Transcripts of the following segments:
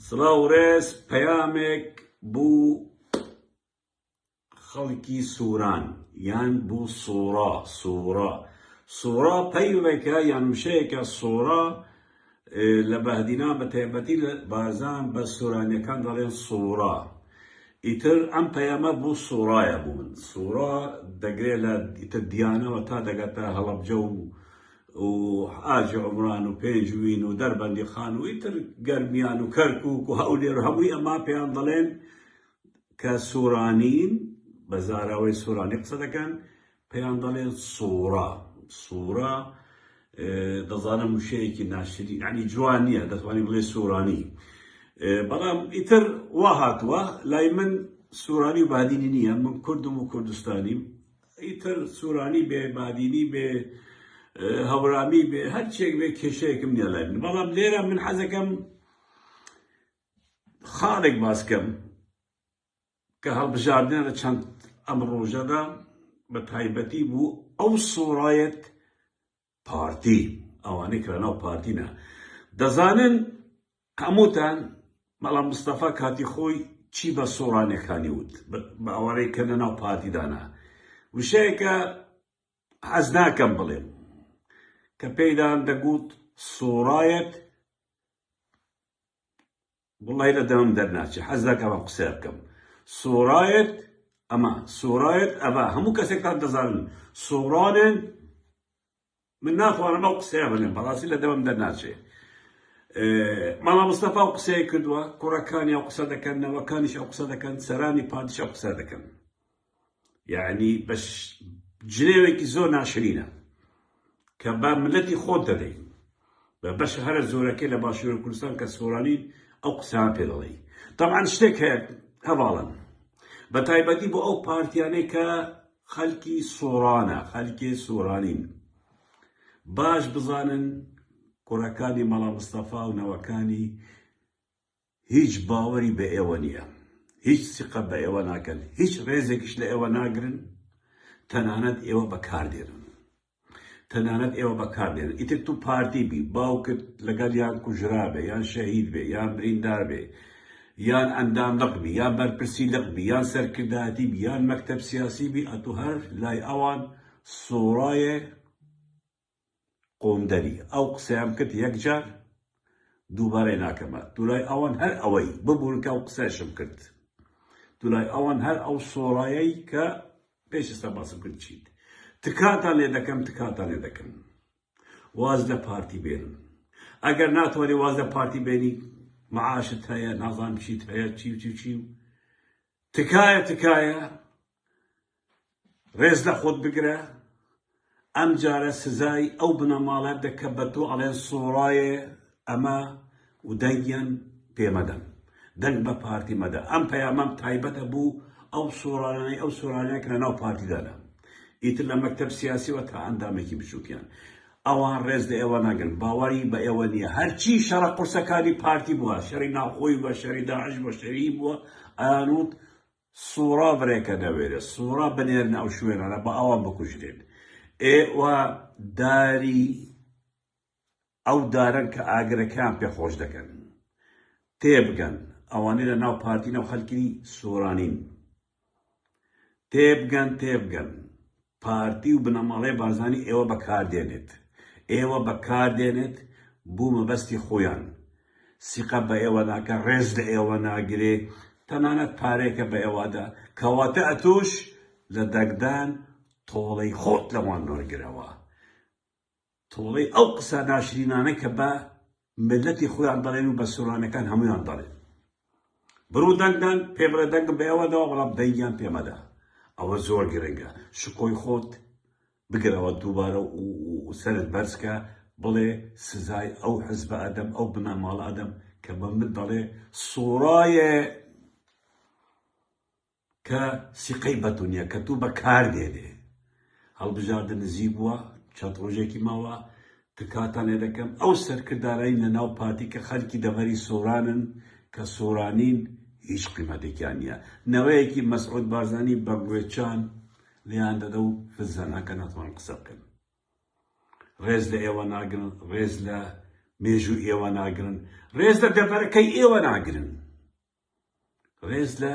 سڵاو و ڕێز پەیامێک بوو خەڵکی سوران یان بوو سوڕا سوڕا سوڕا پەیڕێکە یان وشەیەکە سوڕا لە بەهدینا بە تایبەتی لە بارزان بە سورانیەکان دەڵێن سوڕا ئیتر ئەم پەیامە بوو سوڕایە بوو من سوڕا دەگرێت لە ئیتر دیانەوە تا دەگاتە هەڵەبجە و و حاجی عومران و پێنجوین و دەربەندی خان و ئیتر گەرمیان و کەرکوک و هەولێر و هەمووی ئەما پێیان دەڵێن کە سورانین بە زاراوەی سورانی قسە دەکەن پێیان دەڵێن سورا سورا دەزانم وشەیەکی ناشری ینی جوان نییە دەتوانانی بڵێ سورانی بەڵام ئیتر وا هاتووە لای من سورانی و بادینی نییە من کوردم و کوردستانیم ئیتر سورانی بێ بادینی بێ هەورامی بێ هەرچێک بێ کێشەیەکم نیە لای من بەڵام لێرە من حەزەکەم خاڵێک باسکەم کە هەڵبژاردنە لە چەند ئەم ڕۆژەدا بە تایبەتی بوو ئەو سۆڕایەت پارتی ئەوانەی کە لەناو پارتینە دەزانن هەمووتان بەڵام مستەفا کاتی خۆی چی بە سۆرانەکانی وت بە ئەوانەی کە لەناو پارتیدانە وشەیەکە حەز ناکەم بڵێم کە پێیدان دەگوت سۆرایەت وەڵاهی لە دەمم دەرناچێ حەز ناکەم ئەم قسەیە بکەم سۆرایەت ئەمە سۆرایەت ئەڤە هەموو کەسێکتان دەزانن سۆرانێن من ناتوانم ئەو قسەیە بڵێم بەڕاستی لە دەمم دەرناچێ ماڵا مستەفا و قسەیە کردووە کوڕەکانی ئەو قسە دەکەن نەوەکانیش ئەو قسە دەکەن سەرانی پادشا قسە دەکەن یەعنی بە جنێوێکی زۆر ناشرینە کە بە ملەتی خۆت دەدەی بە بەشە هەرە زۆرەکەی لە باشوور کوردستان کە سۆرانی ئەو قسان پێ دەڵێی تەمان شتێک هەیە هەواڵن بە تایبەتی بۆ ئەو پارتیانەی کە خەلکی سۆرانە خەلکی سۆرانین باش بزانن کوڕەکانی مەڵا مستەفا و نەوەکانی هیچ باوەری بە ئێوە نییە، هیچ سیقە بە ئێوە ناکەن، هیچ ڕێزێکیش لە ئێوە ناگرن، تەنانەت ئێوە بەکاردێنن. تەنانەت ئێوە بەکاردێنن. ئیتر تو پارتی بی، باوکت لەگەڵ یان کوژرابێ، یان شەهید بێ، یان بریندار بێ، یان ئەندام لق بی، یان بەرپرسی لق بی، یان سەرکردایەتی بی، یان مەکتەب سیاسی بی، ئەتو هەر لای ئەوان سۆرایە، قوندەری ئەو قسەیەم کرد یەک جار دووبارەی ناکەمە دولای ئەوان هەر ئەوەی ببورن کە ئەو قسەیشم کرد دولای ئەوان هەر ئەو سۆرایەی کە پێش ئێستا باسم کرد چیت تکاتان لێ دەکەم تکاتان لێ دەکەم واز لە پارتی بێنن ئەگەر ناتوانێت واز لە پارتی بێنی معاشت هەیە نازان چیت هەیە چی و چی و چی و تکایە تکایە ڕێز لە خۆت بگرە ئەم جارە سزای ئەو بنەماڵە دە کە بە تۆ ئەڵێن سۆڕایێ ئەمە و دەنگیان پێ مەدەن دەنگ بە پارتی مەدە ئەم پەیامەم تایبەتە بوو ئەو سۆرانەی ئەو سۆرانەیە کە لەناو پارتیدانە ئیتر لە مەکتەب سیاسیەوە تا ئەندامێکی بچووکیان ئەوان ڕێز لە ئێوە ناگرن باوەڕی بە ئێوە نییە هەرچی شەڕە قورسەکانی پارتی بووە شەری ناوخۆی بە شەری داعش بە شەری بووە ئەیانوت سوڕا برێکە نەوێرێ سوڕا بنێرنە ئەو شوێنانە با ئەوان بکوژرێن ئێوە داری ئەو دارن کە ئاگرەکان پێ خۆش دەکەن تێبگەن ئەوانەی لە ناو پارتینە و خەلکی سۆرانین تێبگەن تێبگەن پارتی و بنەماڵەی بارزانی ئێوە بەکار دێنێت ئێوە بەکار دێنێت بو مەبەستی خویان سیقە بە ئێوە ناکە ڕێز لە ئێوە ناگرێ تەنانەت پارەیەکە بە ئێوەدا کەواتە ئەتوش لە دەگدان تۆڵەی خۆت لەوان وەرگرەوە. تۆڵەی ئەو قسە ناشرینانە کە بە میللەتی خۆیان دەڵێن و بە سۆرانیەکان هەموویان دەڵێن بڕو دەنگ دەن پێ بڵێ دەنگم بە ئێوە داوە بەڵام دەنگیان پێ مەدە ئەوە زۆر گرنگە شکۆی خۆت بگرەوە دووبارە و سەرت بەرزکە بڵێ سزای ئەو حزبە ئەدەم ئەو بنەماڵە ئەدەم کە بە من دەڵێ سۆرایە کە سیقەی بەتونیە کە تو بە کار دێنێ هەڵبژاردە نزیک بووە چەند ڕۆژێکی ماوە تکاتان لێ دەکەم ئەو سەرکردانەی لە ناو پارتی کە خەلکی دەڤەری سۆرانن کە سۆرانین هیچ قیمەتێکیان نییە نەوەیەکی مەسعود بارزانی بە گوێچان لێیان دەدە و فزەنەکە ناتوان قسە بکەن ڕێز لە ئێوە ناگرن ڕێز لە مێژوو ئێوە ناگرن ڕێز لە دەڤەرەکەی ئێوە ناگرن ڕێز لە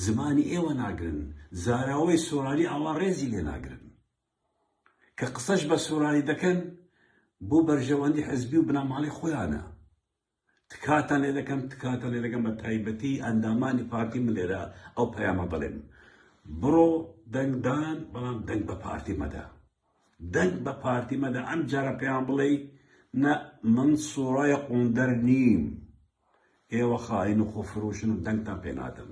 زمانی ئێوە ناگرن زاراوەی سۆرانی ئاوا ڕێزی لێ ناگرن کە قسەش بە سۆرانی دەکەن بۆ بەرژەوەندی حزبی و بنەماڵی خۆیانە تکاتان لێ دەکەم تکاتان لێ دەکەم بە تایبەتی ئەندامانی پارتی من لێرە ئەو پەیامە بڵێم بڕۆ دەنگدان بەڵام دەنگ بە پارتی مەدە دەنگ بە پارتی مەدە ئەم جارە پێیان بڵێی نە من سورای قوندەر نیم ئێوە خائین و خۆفروشن و دەنگتان پێ نادەم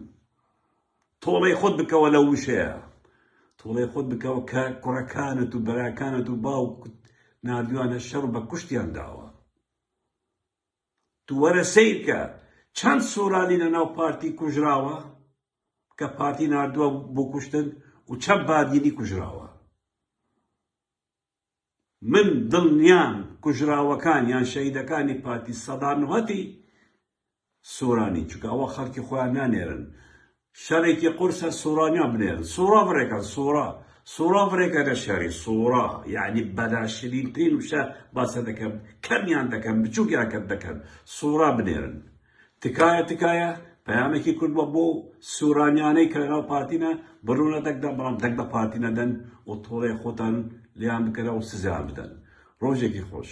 تۆڵەی خۆت بکەوە لە وشەیە تۆڵەی خۆت بکەوە کە کوڕەکانت و بەراکانت و باوکت نردویانە شەڕ بە کوشتیان داوە تو وەرە سەیرکە چەند سورالی لە ناو پارتی کوژراوە کە پارتی ناردوە بو کوشتن و چەند بادینی کوژراوە من دلنیام کوژراوەکان یان شەهیدەکانی پارتی سەدا نهتی سورانی چونکە ئەوە خەلکی خۆیان نانێرن شەرێکی قورسە سورانیا بنێرن سورا بڕێکەن سورا سورا بڕێکە نە شەری سورا یەعنی بە ناشرین ترین وشە باسە دەکەم کەمیان دەکەم بچوکیان کەم دەکەن سورا بنێرن تکایە تکایە پەیامێکی کورد بە بۆ سورانیانەی کە لەناو پارتینە بڕونە دەکدەن بەڵام دەک بە پارتی نەدەن و تۆڵێ خۆتان لیان بکەرەوە سزیان بدەن ڕۆژێکی خۆش